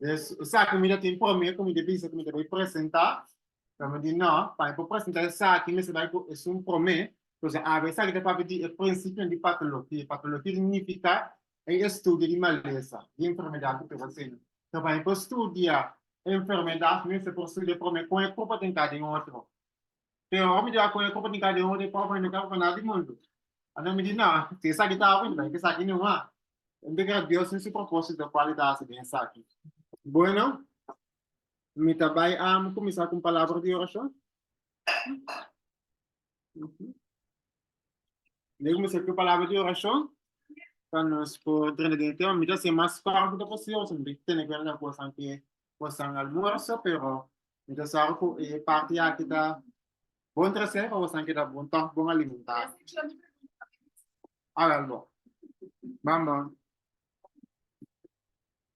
Yes, esaki mi ta tin promé ku mi ta bisa ku mi ta bai presentá. Pero mi di no, pa mi por presentá esaki mester bai ku es un promé. Entonces a vez esaki ta papia di e prinsipionan di patologia. Patologia ta nifiká e estudio di malesa, di enfermedad ku pega asina. So pa mi por studia enfermedad, mi mester por studia promé kon e purpa ta entrá den otro. Pero ora mi di akoya ku panika den hori pobre no kaba pa nada di mundu. Anto mi di no, si esaki ta bon, bai ku esaki numa. Anto keda Dios tin su propósito kual e ta hasi den esaki. Bueno, mi ta bai a kuminsá ku un palabra di orashon. Mi ta kuminsá ku un palabra di orashon pa nos por drenta den e tema. Mi ta hasi e mas kòrtu ku ta posible pasobra mi ta tene ku hende nan kosanan ke bo san almuerzo pero mi ta sa ku e parti aki ta bon trese pa bo san keda bon tòg bon alimentá a wèl bo mama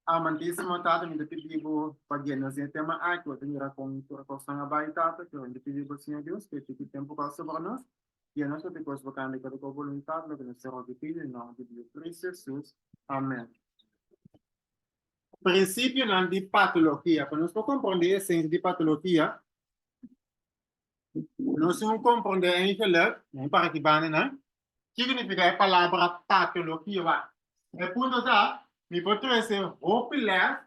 amantísimo Tata mi ta pidi bo pa guia nos den e tema aki bo ta mira kon tur e kos nan a bai Tata pero mi ta pidi bo Señor Dios pa e tiki tempu ku a sobra nos guia nos loke kos bo kanda di akordo ku bo boluntat loke nos ta roga i pidi na nomber di Jesucristo Amen. Prinsipionan di patologia. Pa nos por komprondé esensia di patologia, nos tin ku komprondé en Igeluk, den Parakibanenan, kiko nifiká e palabra patologia. Wak, e punto ta, mi por trese hopi lès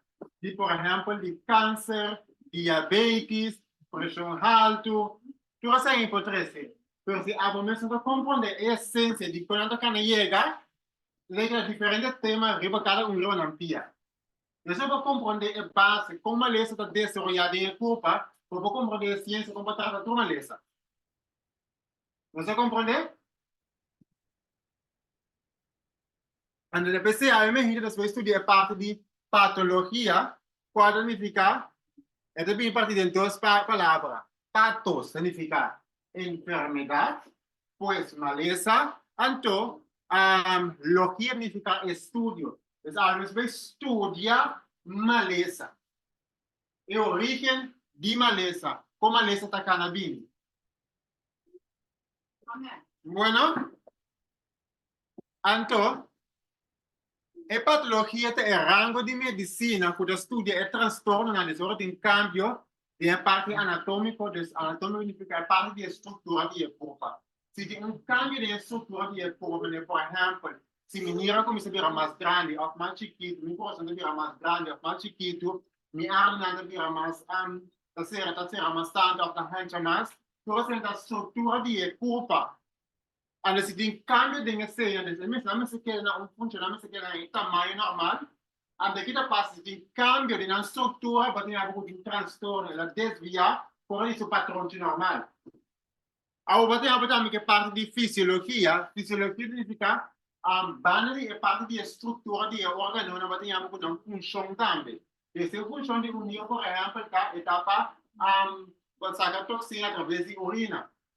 di, por ehèmpel, di kanser, diabetis, preshon haltu, tur esei mi por trese, pero si abo mesun ta komprondé e esensia di kon nan ta kana yega, letra diferente tema riba kada un riba nan pia. Esei pa kompronde e base kon malesa ta desaroyá den e kurpa pa bo kompronde e siensia kon pa trata tur malesa. Nos a kompronde? Anda na PCA e mehidi nos por studia e parti di patologia, kual ta nifiká, e ta bini parti den dos palabra, patos ta nifiká enfermedad, pues malesa, anto logia a nifica estudio, es algo nos bay studia malesa, e origen di malesa, con malesa ta cana bini. Bueno. Anto, e patologia ta e rango di medisina ku ta studia e trastornonan des ora tin kambio den e parti anatómiko, des anatómiko nifiká e parti di e struktura di e kurpa. Si tin un kambio den e struktura di e kurpa, manera por ehèmpel, si mi nira a kuminsá bira mas grandi òf mas chikitu, mi kurason ta bira mas grandi òf mas chikitu, mi arnanan ta bira mas ta sera ta sera mas tantu òf ta hancha mas, tur esei ta struktura di e kurpa. Anda si tin cambio den e señales, e mes nan mester keda na un punto, nan mester keda na e tamaño normal. Anda ki ta pasa si tin cambio den nan structura, bo a tin haber un trastorno, el a desvia fora di su patronchi normal. Awor bo a tin haber tambe ke parti di fisiologia, fisiologia significa um banda di e parti di e structura di e organonan bo a tin haber ku nan funcion tambe. Des e funcion di un niño, por ehempel, ta etapa um bo a saca toxina a traves di orina.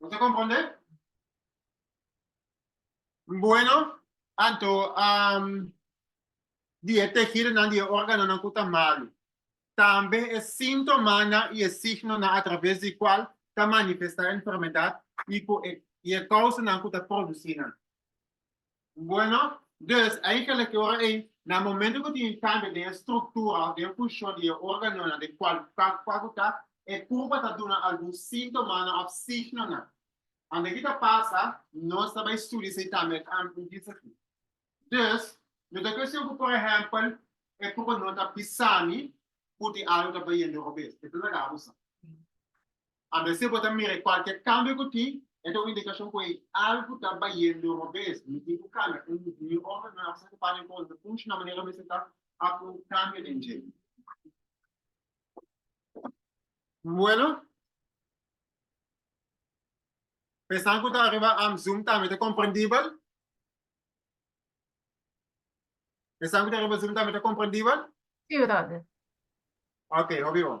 Bo ta kompronde? Bueno, anto um, di e tejidonan, di e órganonan ku ta malu, tambe e síntomanan i e signonan a traves di kual ta manifestá enfermedad i ku e, i e kousanan ku ta produsí nan. Bueno, dus a yega loke ora ei, na momento ku tin e kambio den e struktura òf den e funshon di e órganonan den kualifiká ku kua ku ta, e kurpa ta duna algun síntomanan òf signonan. Ante ki ta pasa, nos ta bai studia esei tambe e kambio ku bisa aki. Dus, no ta kuestion ku por ehèmpel e kurpa no ta bisa mi ku tin algu ta bayendo robes. E ta lagá abusa. A mester bo ta mira e cualkier cambio cu tin, e ta un indicacion cu ey algo ta bayendo robes. Mi tin cu cambia. Un niu homber nuevo sa cu paña cos ta funciona manera mester ta a cu cambio den dje. Bueno, esnan cu ta ariba zoom tambe ta comprendibel? Esnan cu ta ariba zoom tambe ta comprendibel? Si, brother. Ok, hopi bon.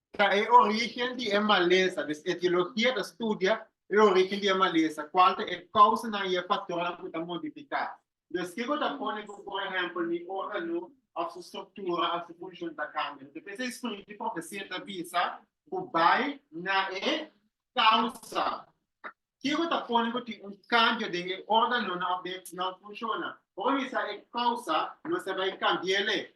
ta e origen di e malesa, dus etiologia ta studia e origen di e malesa, cual ta e causanan y e factornan cu ta modifica. Dus kico ta pone cu por ehempel mi organo of su structura of su funcion ta cambia? Mi ta pensa e spirit di profecia ta bisa cu bay na e causa. Kico ta pone cu tin un cambio den e organonan of den nan funcionnan? Ora mi sa e causa, nos ta bay cambiele.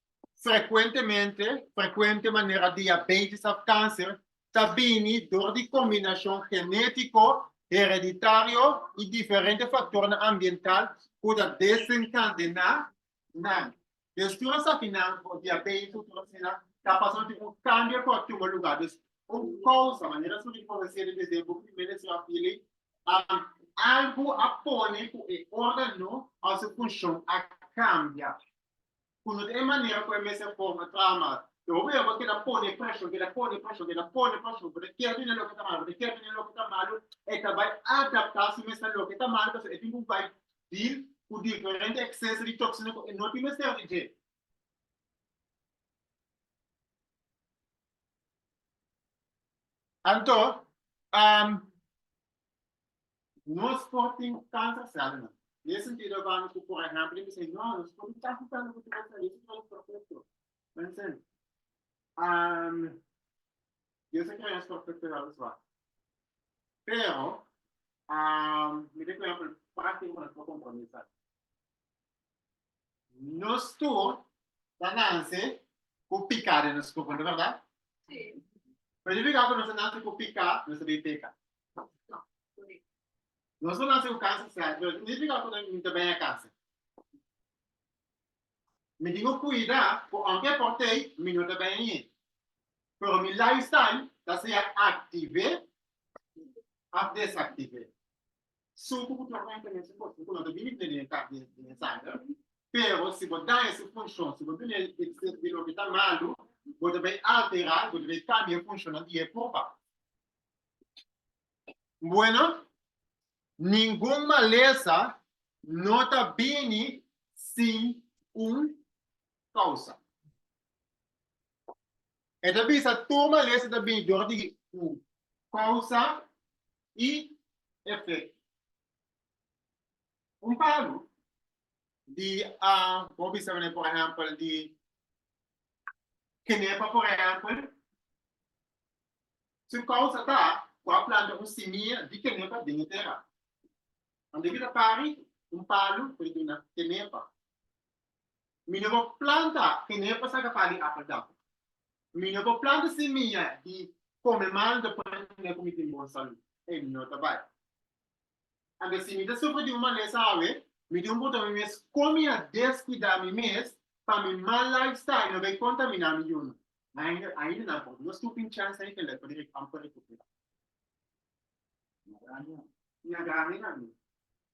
Frecuentemente, frecuente manera diabetes of cáncer ta bini door di combinacion genetico, hereditario y diferente factornan ambiental cu ta desencadena nan. Des tur esaki nan for diabetes o tur asina ta pasa nan tin un cambio cu a tuma lugar. Dus un causa, manera esnan tin por hacé desde e book di Ministry of Healing, algo a pone cu e organo of su funcion a cambia. ku no ta e manera ku e mes a forma trama. E hopi bo ta keda pone preshon, keda pone preshon, keda pone preshon, bo ta kier bini loke ta malu, bo ta kier bini loke ta malu, e ta bai adapta si mes na loke ta malu pasobra e tin ku bai dil ku diferente ekseso di toksina ku e no tin mester di dje. Anto, Nos por tin kansa sèl nan. Den e sentido abaño ku por ehèmpel e bisei, no, nos por di kasi sèl ku Dios a hasi ku nos perfekto. Mi a sen, Dios a krea nos perfekto wèl a swak. Pero, mi ta kue, por ehèmpel, pati ku nos por kompromé sa. Nos tur ta nanse ku pika den nos kurpo, no berdad? Sí. Pero yo pika ku nos ta nanse ku pika, nos ta bin peka. Nos ta nanse ku kansa sèt, pero no pika ku mi ta baña kansa. Mi tin ku kuida ku aunke por tei, mi no ta baña ñe. Pero mi lifestyle ta sea aktive of desaktive. Su ku bo ta traha enta mesmu kos, bo ku no ta bini plene den kap di e sanger. Pero si bo daña su funshon, si bo duna e eksepto di loke ta malu, bo ta bai alterá, bo ta bai kambia e funshonnan di e kopa. Bueno, ningun malesa no ta bini sin un kousa. E ta bisa tur malesa ta bini dor di un kousa i efekto. Un palu di a bo bisa mane por ehempel di kenepa por ehempel su kousa ta ku a planta un simia di kenepa den e tera. Ora ke ta pari un palu por duna kenepa. Mi no por planta keney pa saca pali apel dam. Mi no por planta semia di come mal do pa hende cu mi tin bon salud. E no ta bai. Anto si mi ta sufri di un malesa awe, mi tin un punta mi mes come a descuida mi mes pa mi mal lifestyle no bay contamina mi yuno. Ainda, ainda nan por no stooping chance hay kende por ric amper recupera. Na grandi, na grandi nan.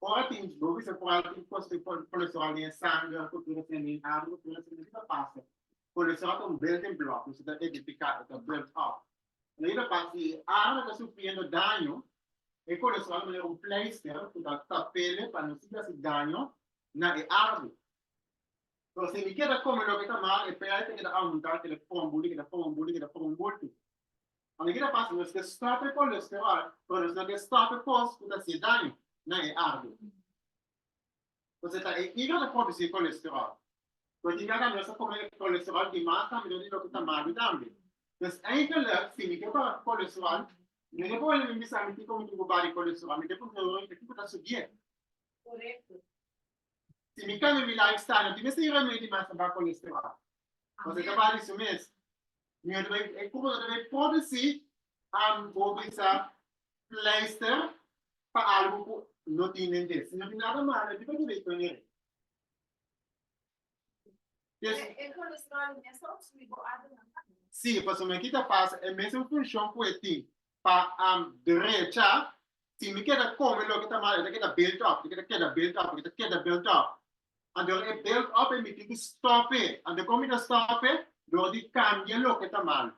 Ora tin bo bisa ku al tin kos di kolesterol den e sanger, ku tur esei mi arbo, tur esei mi. Ki ta pasa? Kolesterol ta un building block, mester ta edifiká, e ta build up. Ora e ta pasa si e arbo ta sufriendo daño, e kolesterol ta manera un pleister ku ta tap'e pa no sigui hasi daño na e arbo. So si mi keda kome loke ta mal, e pleister keda aumentá, keda for un bultu, keda for un bultu, keda for un bultu. Ora ki ta pasa nos ke stop e kolesterol pero nos no ke stop e kos ku ta haci daño na e arbo. Entonces ta e hígado ta produci kolesterol. Lo tin ke haga nos ta come e kolesterol di mas tambe no di loke ta malo tambe. Entonces eigenlijk fini ke por kolesterol mi no por wene mi bisa mi tin komo tugu bari kolesterol mi ke por horan kiko ta subié. Si mi cambia mi life style, no tin mester yega medi mas pa baha colesterol. Cos e ta baha di su mes. Mi hopi ta bay, e cuerpo ta bay propi si am bo bisa pleister pa algo cu no tin den def. Si no tin nada malo, di pa ke bay con e. Kes, E kolesterol i mester op subi bo altu na sangi. sí, pasobra ki ta pasa, e mesun funshon ku e tin pa am drecha, si mi keda kome loke ta mal, e ta keda built up, e ta keda built up, e ta keda built up. Anto e built up e mi tin ku stòp'e. Anto kon mi ta stòp'e? Dor di kambia loke ta mal.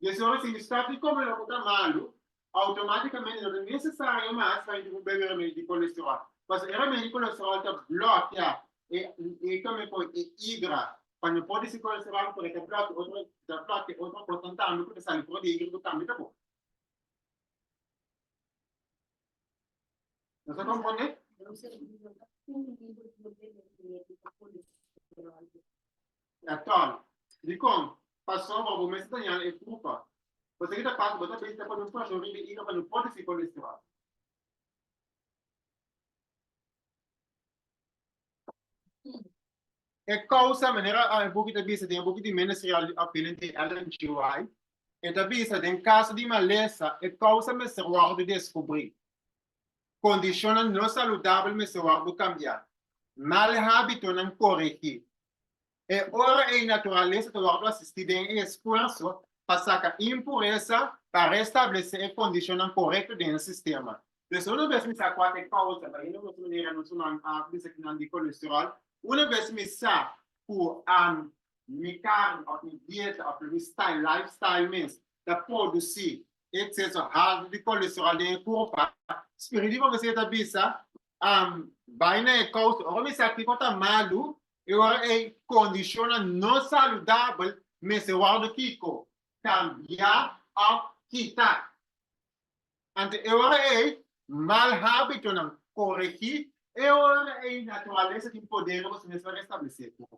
I es hora si mi stap di kome loke ta malu, outomaticamente no ta necesario mas pa incumpli cu e remedio di colesterol, pasobra e remedio di colesterol ta blokia e e kome cu e igra pa no por di si colesterol pero ta blokia otro ta blokia otro cosnan tambe cu ta sali for di e igra cu tambe ta bon. Nos a comprende? Natal. Dikon? Pasobra bo mester ta yana e trupa. Bo sigi ta pasa, bo ta bista pa nos korashon riba e ira pa no por di si kon destroy. E kousa manera e buki ta bisa den e buki di Ministerial di Opinion di Ellen G. White, e ta bisa, Den kaso di malesa, e kousa mester wòrdu deskubrí. Kondishonnan no saludabel mester wòrdu kambiá. Mal hábitonan koregí. E ora ei naturalesa ta wòrdu asistí den e esfuerso pa saka impuresa pa restablesé e kondishonnan korekto den e sistema. Pues una bes mi sa kua ta e kousa, ta yendo nos manera nos human a bisa aki nan di kolesteròl, una bes mi sa ku mi karni òf mi dieta òf lo mi style, lifestyle mes, ta produsí ekseso haltu di kolesterol den e kurpa, spirit di profesia ta bisa, Am bai na e kous ora mi sa kiko ku ta malu, e ora ei kondishonnan no saludabel mester wòrdu kiko? Kambiá òf kita. Anto e ora ei mal hábitonan koregí, e ora ei naturalesa tin poder di boso mes pa restablesé e kurpa.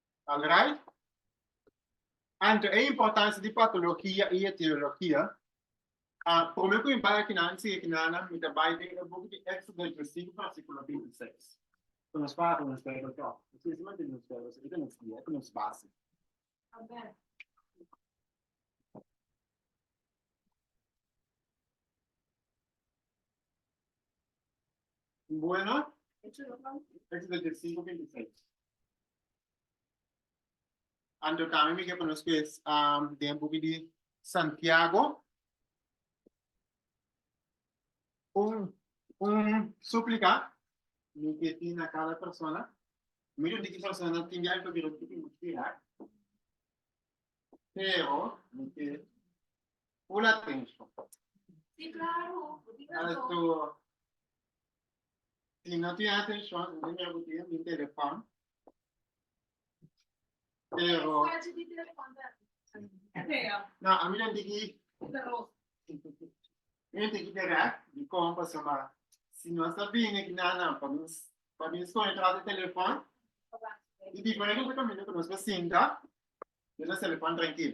Alright? Anto e importancia di patologia y etiologia, a prome cu mi bay aki nan si aki nan mi ta bay den e buki di Extra Digestivo Fascicula 26. Cu nos papia nos bay bay troppo. Nos kier si mantene nos bay bay nos guia y nos base. Buena. Éxodo 25, 26. Anto tambe mi ke pa nos kues um, den buki di Santiago. Un, un súplica mi ke tin na cada persona. Miro di ki persona tin di algo que lo tiene que tirar. Pero mi ke Un atenshon. Alto, si no tin atenshon, no me bo tin mi telefòn. Pero, no, a mi no tiki, mi no tiki dirèk di kon pasó, ma si nos ta bini ku nan nan pa nos, pa nos kon entrá te telefòn, di diferente kaminda ku nos ta sinta den nos telefòn trankil.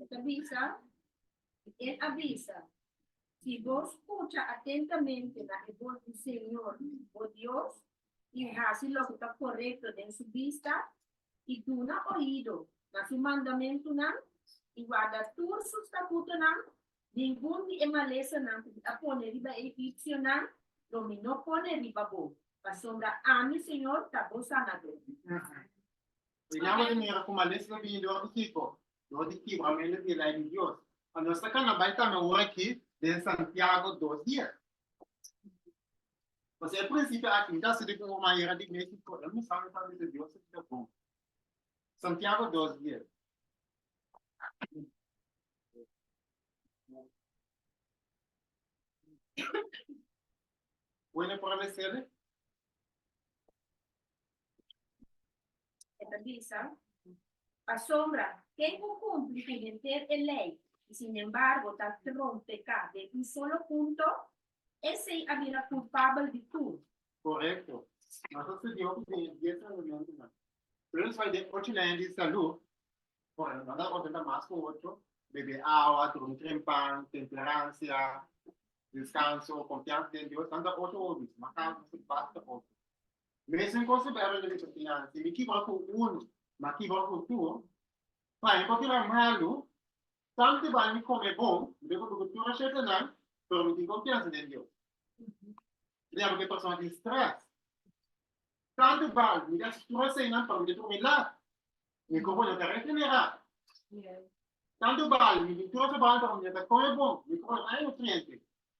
E ta bisa, e a bisa, Si bo scucha atentamente na e voz di Señor, bo Dios, i haci loke ta corecto den su bista, i duna oido na su mandamentunan, i warda tur su statutonan, ningun di e malesanan cu bi a pone riba e egipcionan lo mi no pone riba bo, pasobra ami, Señor, ta bo Sanador. E yama di mira ku males lo bini dor di kiko? Dor di kibramentu di Lei di Dios. Anos ta kana bai tambe un aki den Santiago dos dies. Pasobra e prinsipio aki no ta hasi di ku un urman yega di Mexico, e misa no tambe ta Dios su día bon. Santiago dos dies. Bueno, por a mesele. E ta bisa, Pasobra ken ku kumpli ku henter e lei i sinembargo ta trompeká den un solo punto, esei a bira kulpabel di tur. Korekto. Nos a studiá hopi den e dies mandamentnan. Pero nos bai den ocho lei di salú, ku a manda nos ontenta mas ku ocho, bebe awa, durmi trempan, temperansia, deskanso, konfiansa den Dios. Nan ta ocho hobis, mas kaso nos a basta ocho. Mester considerá lo mester tin haci. Si mi kiba cu uno, m'a kiba cu tur, pa e papia la malu, tam te bai mi come bon, mi lo cumpli cu tur e scetenan, pero mi tin confiansa den Dios. Mi ta haci cu e persona tin stress. Tam te bai mi ta haci tur eseinan, pero mi ta durmi lat. Mi cuerpo no ta regenerá. Tam te bai mi di tur e trabahonan, pero mi no ta come bon, mi cuerpo no ta hay nutriente.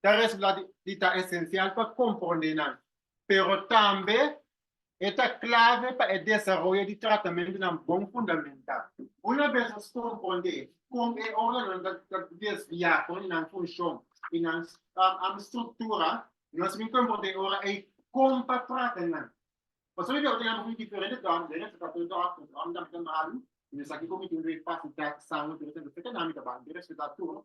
ta resultá di ta esensial pa komprondé nan, pero tambe e ta klave pa e desaroyo di tratamentunan bon fundamentá. Una bes nos komprondé kon e órganonan ta desviá for di nan funshon i nan struktura, nos bin komprondé ora ei kon pa trata nan. Pasobra di ora ku tin diferente dòm, den e tratamen dòkter, dòm tambe ta malu i no sa kiko mi tin refasitá, sangu tambe ta afektá, nan mi ta bai interesá tur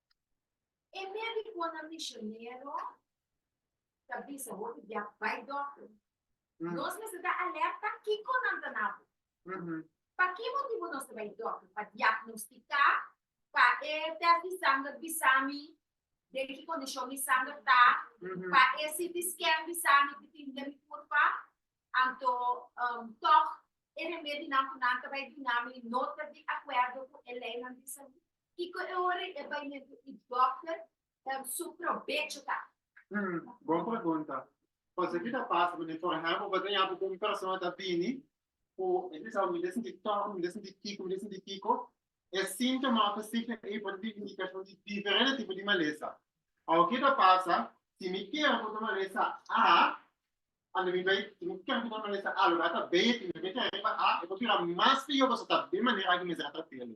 E medikonan misionero ta bisa bo di bia bai dòkter. Nos mester ta alerta kiko nan ta na bo. Pa ki motibu nos ta bai dòkter? Pa diagnostiká? Pa e tèst di sanger bisa mi den ki kondishon mi sanger ta? Pa e CT scan bisa mi di tin den mi kurpa? Anto tòg e remedinan ku nan ta bai duna mi no ta di akuerdo ku e leinan di salú? Kiko e ora i e baimentu i dòkter den su probecho ta? Hm, bon pregunta. Pasobra ki ta pasa ku den for ehèmpel bo ta yape ku un persona ta bini ku e ta bisa, mi ta sinti tòrtu, mi ta sinti kiko, mi ta sinti kiko, e síntoma òf e signo ei por ta bin indikashon di diferente tipo di malesa. Awe ke ta pasa si mi kere ku ta malesa A, a mi bai, si mi kere ku ta malesa A loke a ta beye, si mi bai kere riba A, e por bira mas pior pasobra ta den manera aki mester a tratael.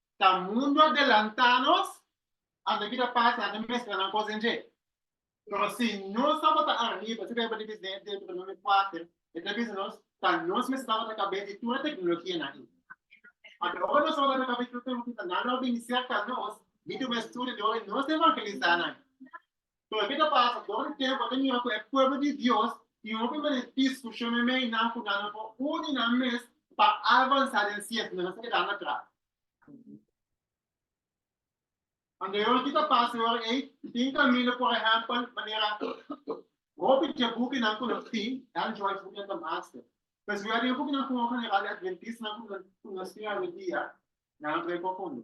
Ta mundu a delanta nos anda bida pasa anda mestra nan cos den dje pero si nos tabata arriba si ta bai di bisneto di Deuteronomio cuater e ta bisa nos ta nos mester tabata cabes di tur e tecnologia nan ayi pasobra ora nos tabata cabes di tur e tecnologia nan lo a bini cerca nos bini un estudio di ora nos ta evangelisa nan Pero ke ta pasa? Dor di tempu a ta mira ku e pueblo di Dios tin hopi mané diskushon meinan ku nan no por uni nan mes pa avansá den siente, nan no por keda atras. Ande yora ki ta pasa yora ei? Tin kaminda, por ehèmpel, manera hopi dje bukinan ku nos tin, Ellen G. White bukinan ta master. Pero si bo ya den bukinan Fungro General di Adventistanan ku nan studia hoy dia, nan a trei profundo.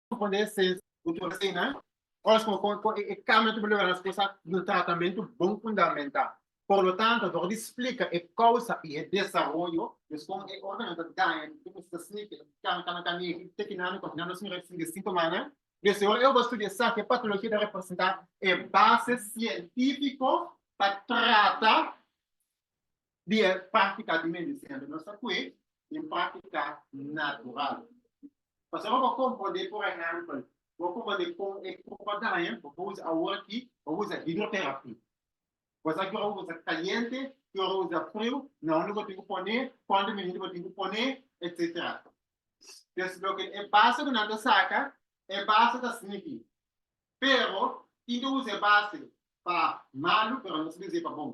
Respondé se cultura sena ora suma con con e cambio tu lograr las cosas no tratamiento bon fundamentá. Por lo tanto, door di explica e causa y e desarrollo des con e organan ta daña di tudu mester snike e cana cana cana y te kinan no kinan nos mira sigue cinco mana de si ora eobo studia sa ke patologia ta representa e base cientifico pa trata di e práctica di medicina cu nos ta cue i un práctica natural. Pasobra bo comprende por ehempel, bo comprende con e copa daña, bo por usa awor aki, bo por usa hidroterapia. Bo sa cu ora bo usa caliente, cu ora bo usa friu, na hondo bo tin cu pone, cuantu minuto bo tin cu pone, etcetera. Pues loke e base cu nan ta saca, e base ta snifi. Pero tin cu usa e base pa malu, pero no sibi us'e pa bon.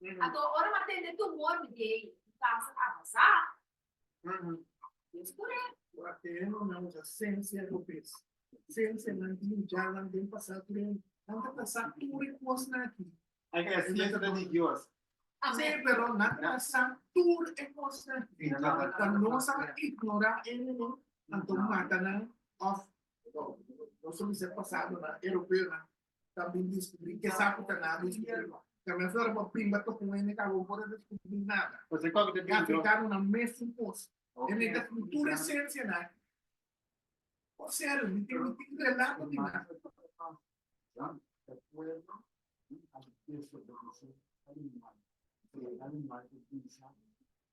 Anto ora mi a tende tumor mi dei mi kansa avasa. Yes correct. Cu a tene no mi a usa sense ropes. Sense nan di ya nan den pasa tur en nan ta pasa tur e cosnan aki. Ai ke ese sense ta di Dios. Si pero nan ta pasa tur e cosnan aki. Cuando nos a ignora ene no anto mata nan of nos a bisa pasado nan europeonan ta bin diskubri ke sa ku ta na diskubri no. Ka mester ora bo bimba tok un hende ku abo por a diskubri nada. Ku esei tok ta bin dro. Afrikano nan mesun kos. E mester ku tur esensia nan. Kos serio, mi tin mi tin relato di nan.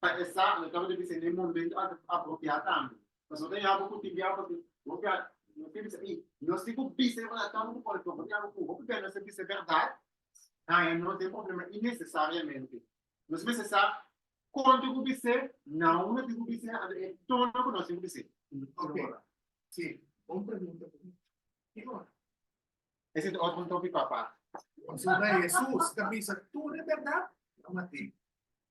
pa e sa lo tabata bisa n'e momento apropiá tambe. Pasobra ta yama ku tin biaha pasobra hopi a no tin bisa ei nos tin ku bisa e manannan ku por ejemplo yama ku hopi bèr nos a bisa e bèrdat ha e no tin problema inesesariamente. Nos mester sa konta ku bis'é, na hopi no tin ku bis'é anto e torno ku nos tin ku bis'é. Okay. Si, un pregunta ku mi. Ki ora? Ese ta otro topic pa aparte. Pasobra Hesus ta bisa tur e bèrdat? Yama tin.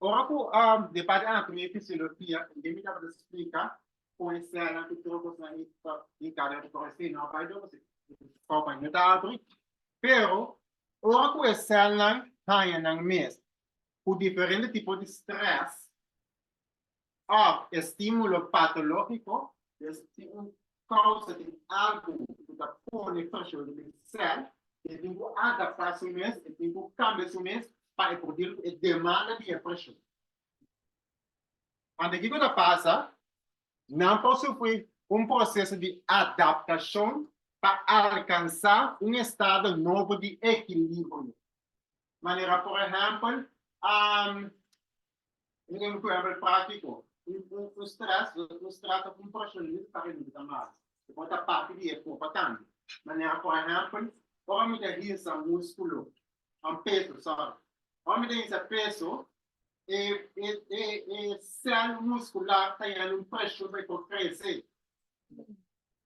ora ku de parte Ana Tonia ku Silofia ke mi tabata splika poeseanan ku otro kosnan i ta brinká den otro esei no a bai dor pasobra e baño ta abri pero ora ku e sèlnan haña nan mes ku diferente tipo di strès òf e stímulo patológiko. Des tin un kousa di algu ku ta pone e kòshon riba e sèl. E tin ku adaptá su mes, e tin ku kambia su mes pa e por dil ku e demanda di e kòshon. Anto kiko ta pasa? Nan por sufrí un proseso di adaptashon pa alkansá un estado nobo di ekilibrio. Manera por ehèmpel, Un enfermer pratico, un un un stress, un stress ta un presionist pa remedi ta mal. E por ta parti di e copa tambe. Manera por ehempel, ora mi ta hinsa musculo, um peso, sorry. Ora mi ta hinsa peso, e e e e cel muscular ta yanda un presion pa e por crece.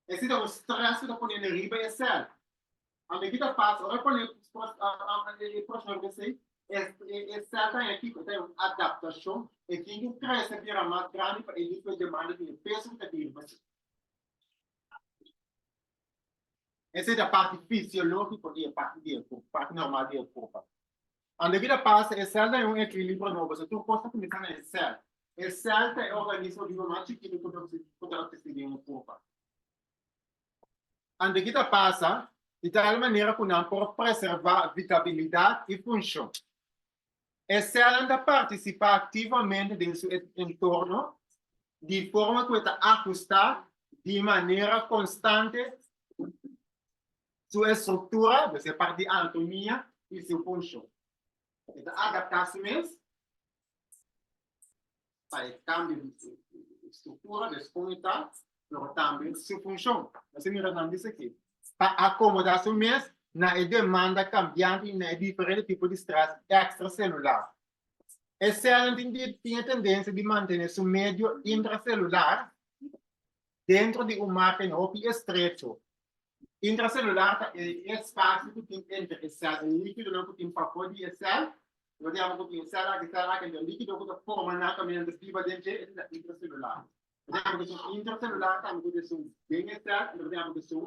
Ese ta un stress cu ta pone riba e cel. Ame ki ta pasa ora pone e proshonamento esei, e sèl ta hèn kiko? Ta hèn un adaptashon, e tin ku krese bira mas grandi pa e nivel demanda di e peso ku ta bira pa si. Esei ta parti fisiológiko di e parti di e korp, parti normal di e korp akí. Ame ki ta pasa, e sèl ta hèn un ekilibrio nobo, pasobra tur kos ta kuminsá na e sèl. E sèl ta e organismo bibo mas chikitu ku ta obsistí den e korp akí. Ante ki ta pasa i tal manera ku nan por preservá vitabilidat i funshon. E sèlnan ta partisipá aktivamente den su entorno di forma ku e ta ahustá di manera konstante su estruktura, dus e parti di anatomia, i su funshon. E ta adaptá su mes. pa e kambio di e struktura des komunitat, pero tambe su funshon. Por eso mira nan bisa aki, pa akomoda su mes na e demanda kambiante i na e diferente tipo di stres ekstraselular. E sèlnan tin di tin e tendensia di mantene su medio intraselular dentro di un margen hopi estrecho. Intra celular ta e espacio cu tin entre e cel, e liquidonan cu tin pabor di e cel, lo di abo cu tin e cel aki, e cel aki, enton e liquido cu ta forma nan caminando riba den dje, esei ta intra celular. Lo di abo cu esun intra celular tambe cu ta esun den e cel, enton lo di abo cu esun.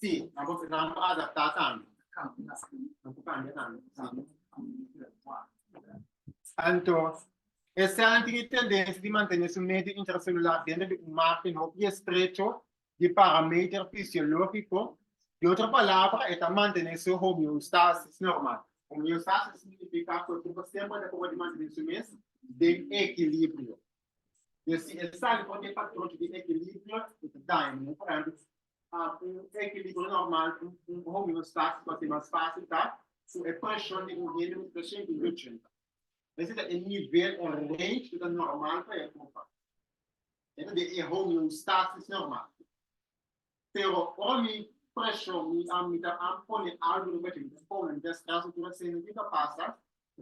Sí, nan por nan por adaptá tambe. Nan por kambia tambe. Anto, e sèlnan tin e tendensia di mantené su medio intraselular denter di un margen hopi di estrecho di parameter fisiológiko. Di otro palabra, e ta mantené su homeostasis normal. Homeostasis signifiká ku e kurpa semper ta proba di mantené su mes den ekilibrio. Pues si e sali for di e patron di equilibrio, e ta daña mi hopi grandi. Un equilibrio normal, un homeostasis, lo ke mas fácil ta ku e preshon di un hende mester ta shente di ochenta. Esei ta e nivel, e range ku ta normal pa e hopi. E ta den e homeostasis normal. Pero ora mi preshon mi a mi ta a pone algu riba di mi pone mi ta stress mi ta senti ki ta pasa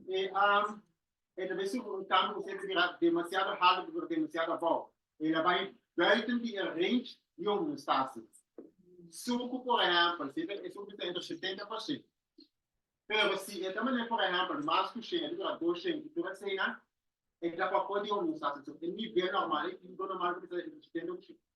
e a e ta besi un kami ku senti bira demasiado hard tabata demasiado abao e a bai buiten di e range di un mestasi suku por ehempel si e suku ta entre setenta pa shen pero si e ta mane por ehempel mas ku shen e ta bira dos shen i tur asina e ta papou di un mestasi so e nivel normal e tipo normal ku ta entre setenta ku shen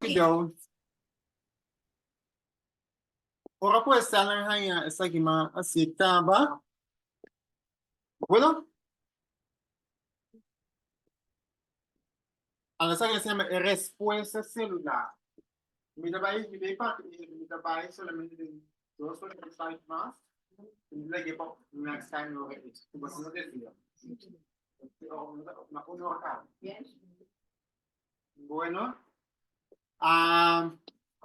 Fidel. Ora ku esel nan haña esaki ma asi e kaba. Bueno. Ala esaki lo se yama e respuesta selular. Mi ta bai mi ta pati mi mi ta bai solamente den dos ora tres site mas mi ta lege pa next time mi wak e ku paso no den dia na uno ora ka bueno um,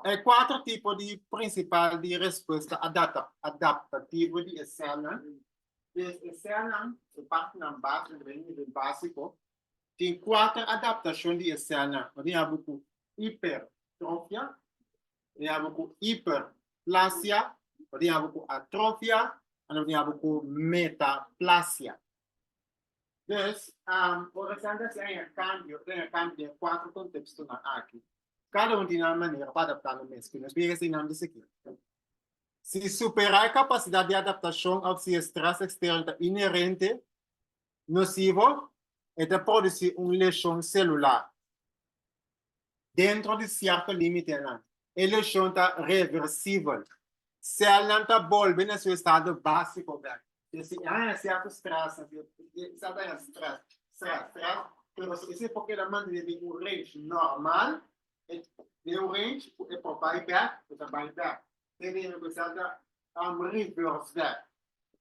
e cuatro tipo di principal di respuesta adapta adaptativo di escena des escena e parte nan base den nivel básico Tin kuater adaptashon di e sèlnan. Lo tin habu ku ipertrofia, lo tin habu ku iperplasia, lo tin habu ku atrofia en lo tin habu ku metaplasia. Pues, ora esnan ta hasi aña kambio, ta haña kambio den e kuater kontekstonan akí. Kada un tin nan manera pa adaptá nan mes. Nos mira esei nan di sikí, si superá e kapasidat di adaptashon òf si e strès eksterno ta inerente, nosivo, e ta produsí un leshon selular. Dentro di sierto límitenan, e leshon ta reversibel. Sèlnan ta bolbe na su estado básiko bèk. P'esei si e haña sierto strès, sa ta haña strès, strès, strès, pero si esei por keda mantené den un range normal, den un range ku e por bai bèk, e ta bai bèk. te bini ku esaki I'm reverse that.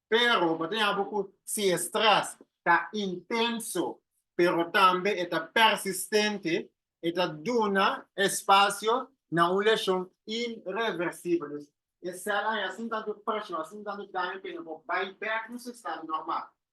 Pero bo ta yabi ku si e stress ta intenso pero tambe e ta persistente e ta duna espacio na un lesion irreversible. Dus e cel ain asin tantu presión, asin tantu daño ku e no por bai bek na su estado normal.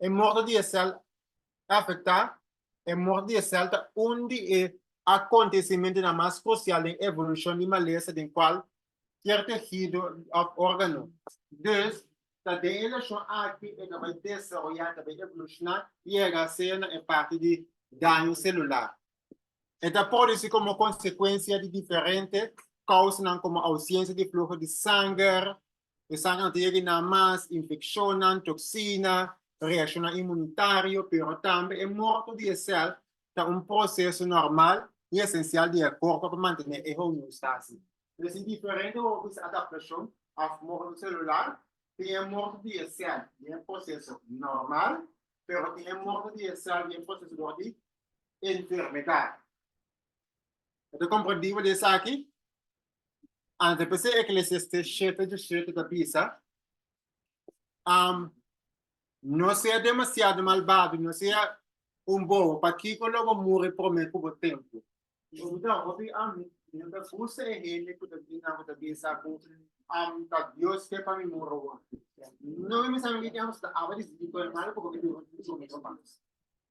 E morto di e sèl afektá, e morto di e sèl ta un di e akontesimentunan mas krusial den evolushon di malesa den kualkier tehido òf órgano. Dus, ta den e leshon aki e ta bai desaroyá, ta bai evolushná yega sea na e parti di daño selular. E ta produsí komo konsekuensia di diferente kousanan komo ousiensia di fluho di sanger, Esanan ta yega na mas infeccionnan, toxina, reaccionnan inmunitario, pero tambe e morto di e cel ta un proceso normal y esencial di e corpo pa mantene e homeostasis. Nos tin diferente hopi di adaptacion of morto celular. Tin e morto di e cel di e proceso normal, pero tin e morto di e cel di e proceso dor di enfermedad. Bo ta comprendiba di esaki? Ante pa ser eclesiastés shete dje shete ta bisa, Am, no sea demasiado malbado, no sea un bobo, pa kiko lo bo muri promé ku bo tempu? Bo ta hopi ami, mi no ta buska e hende ku ta bin nan ku ta bisa ku, Am, ta Dios ke pa mi muri wòrdu. No mi mester a mi tin haña pasobra tabata disipel malo, pasobra bo ta duna mi promesa mas.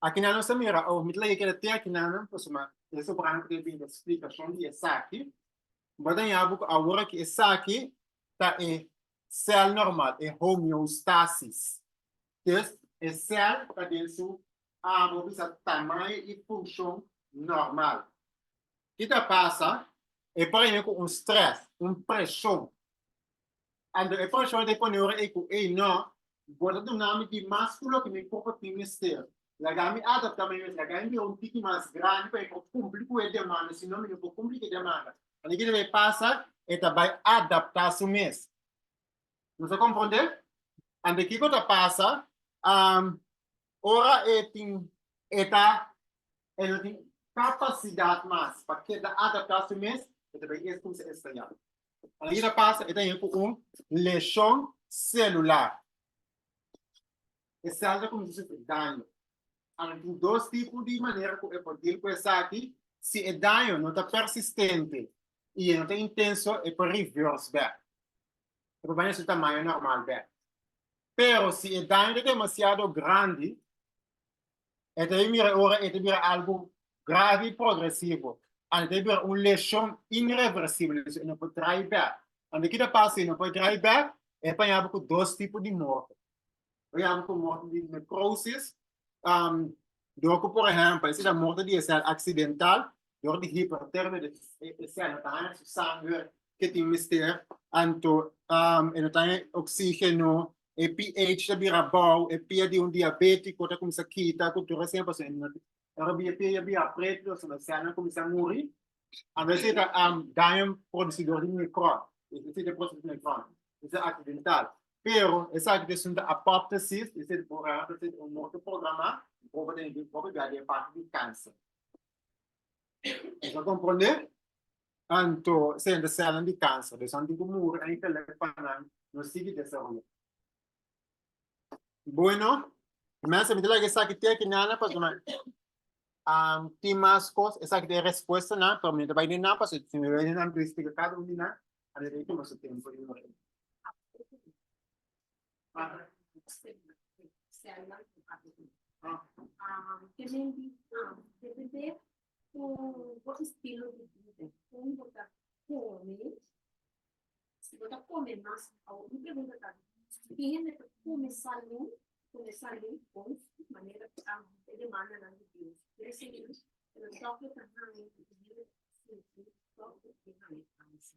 Akinan nos ta mira awe. Mi ta laga e keda te akinan nan pasobra e sobrano ta bin da splikashon di esaki. Bo a dañabo ku awor aki esaki ta e sèl normal, e homeostasis. Entonces, e sèl ta den su abo bisa tamaño i funshon normal. Ki ta pasa? E prende ku un strès, un preshon Ando e profesor ta pone ora ei ku ei nò, bo ta duna mi di mas ku loke mi popo tin mester. Laga mi adaptá mi mes, laga mi bira un tiki mas grandi pa mi por kumpli ku e demanda, si no mi no por kumpli ku e demanda. Ora e kila ei pasa, e ta bai adaptá su mes. Nos a komprondé? Ando kiko ta pasa ora e tin e ta e no tin kapasidat mas pa keda adaptá su mes, e ta bai es kumsa e strayá. Alida pasa e ta yin ku un leshon selular. E sèl ta kuminsá sufri daño. Ahora tin dos tipo di manera ku e por dil ku esaki, si e daño no ta persistente i e no ta intenso e por reverse bèk, e por bini na su tamaño normal bèk. Pero si e daño ta demasiado grandi, E ta bin bira ora e ta bira algu grave y progresivo, andi e ta bira un lesion irreversible, so e no por trae bek. Andi ki ta pasa si e no por trae bek? E pañaba cu dos tipo di morto. E pañaba cu morto di necrosis, um, dor cu, por ehempel, si ta morto di e cel accidental, dor di hipertermia, di e, e cel no ta haña su sanger ke tin mester, anto um, e no ta haña oxigeno, e pH ta bira bou, e pia di un diabetico ta cuminsa kita cu tur asina pasobra e no Ora bi e pia ya bira pretu lo haciendo cel nan cuminsa muri, a vece ta daño producidor di microbe, e ta siti proces di microbe, esa ta accidental, pero esaki ta asunto apoptosis, e ta borrado ta siti un morto programa, bobo ta yega di e parti di cancer. Nos a comprende? Tanto esei a desela di kansa, beson tin ku muru en intelekt pa nan no sigui desaroyá. Bueno, e mester miti laga esaki teke nan, pasobra tin mas kos, esaki ta e respuestanan, pero mi no ta bai den nan, pasobra si mi bai den nan mi ta splika kada un di nan, a mira i tuma su tempu i no bai. Ku bo estilo di bida, kon bo ta kome? Si bo ta kome mas, awo mi pregunta ta, si tin hende ta kome salú, kome salú bon di manera ku ta e demandanan di Dios? Kere seña ku nan dokter ta haña ku e hende ta sinti tok ku e haña kansa.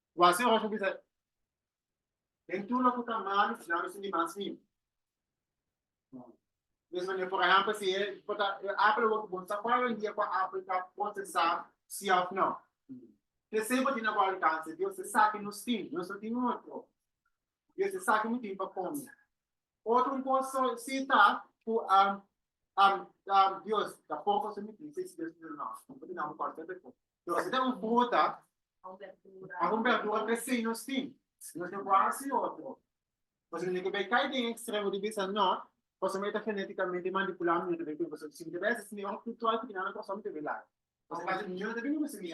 Wak si José bisa, Den tur loke ku ta malu, mi no sinti mas niu. Mes manera, por ehèmpel, si e por ta e apel awor ku bo sa kual hoendia ku e apel ta prosesá, si òf nò. P'esei bo tin na bo alkanse, Dios e sa ku nos tin, nos no tin otro. Dios e sa ku no tin pa kome. Otro un kos so si ta ku Dios ta por kos mi tin, si es Dios no tin. Nos a den un fruta, a un berdura presei nos tin. Si nos no por hasi otro, nos a tene ke bai kai den ekstremo di bisa no, kosami e ta genetikamente manipulá mi no ta bai kumpa. So si mi ta bai hasi simi òf ritual ku tin nan kosami ta bai laga. Por si akaso mi no ta bini ku simi.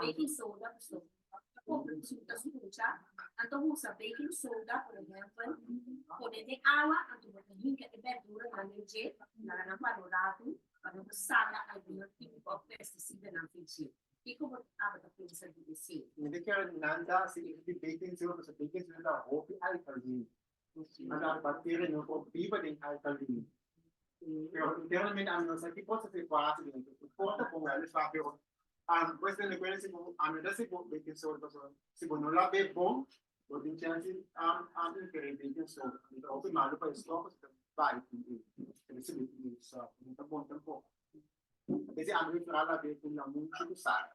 Baking soda ku stòk kompra ku suka su kucha, anto bo usa baking soda por ehèmpel pone den awa anto bo ta hinka e bèrduranan den dje laga nan pa lo ratu pa no bo saka algun kimiko òf pestisidanan fu dje. Kiko bo tabata pensa di esei? Nan ta hasi efik di baking soda pasobra baking soda ta hopi alkalin. Mandan bater en un por biba den alta luna. Pero internamente ami no sa ki cosa se pasa den eso. No importa como ami sa, pero ami pues den recuerdo si bo, ami ta si bo be tin sor pasobra si bo no la be bon, bo tin chance am, am interés den tin sor. Ami ta hopi malo pa e sor pasobra ta bai tin e. Ta bisa be tin e, so no ta bon tampoco. Kesi ami mi fala la be cu lamun chucu sara.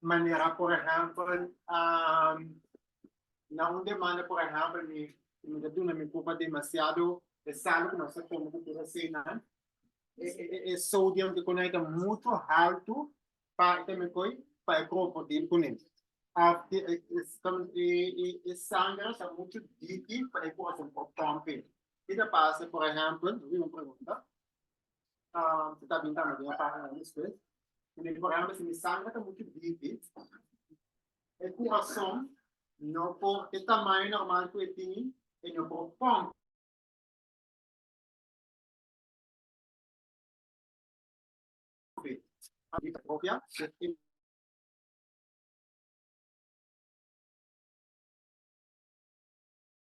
Manera por ehempel na un demanda por ehempel mi mi ta duna mi pupa demasiado e sal ku nos ta tuma ku tur esei nan e e sodium di kuné ta muchu haltu pa e ta mi koi pa e krokodil kuné of di e e e sangre ta muchu diki pa e ku hasi un por tòmp e i ta pasa por ehempel un pregunta Te ta bintana den e pagina di despues. I mi por hende si mi sangre ta muchu bibi, e kurason no por e tamaño normal ku e tin, e no por pompa. Bida propia ku.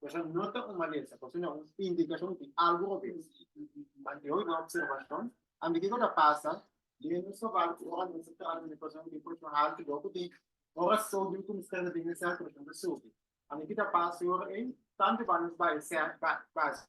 Eso no ta un malesa, pero si no un indicacion di algo por bira. Pan di hoy no observacion, anto kico ta pasa, den nos trabajo cu ora nos ta trata di un persona cu presión alta y loco tin ora so di un comensante den e centro ta subi. Anto ki ta pasa e ora ey, tanto bay nos bay cen bay base.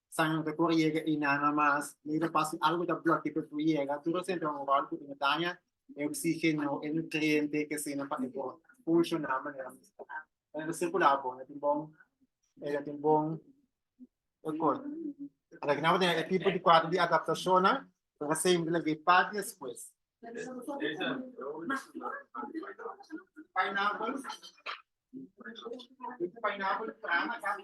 San no ta por yega Inana mas, mey ta pasa algo ta bloke pa e por yega, tur hosente un ròl ku ta daña e oksígeno, e nutriente ke asina pa e por funshoná manera mester. Cuando ta circula bon ta tin bon e ta tin bon ekor. Ora ku nan por tene e tipo di kuadro di adaptashonnan nan ta siempre lag'é e par despues. Pineapple, pineapple, trana, café.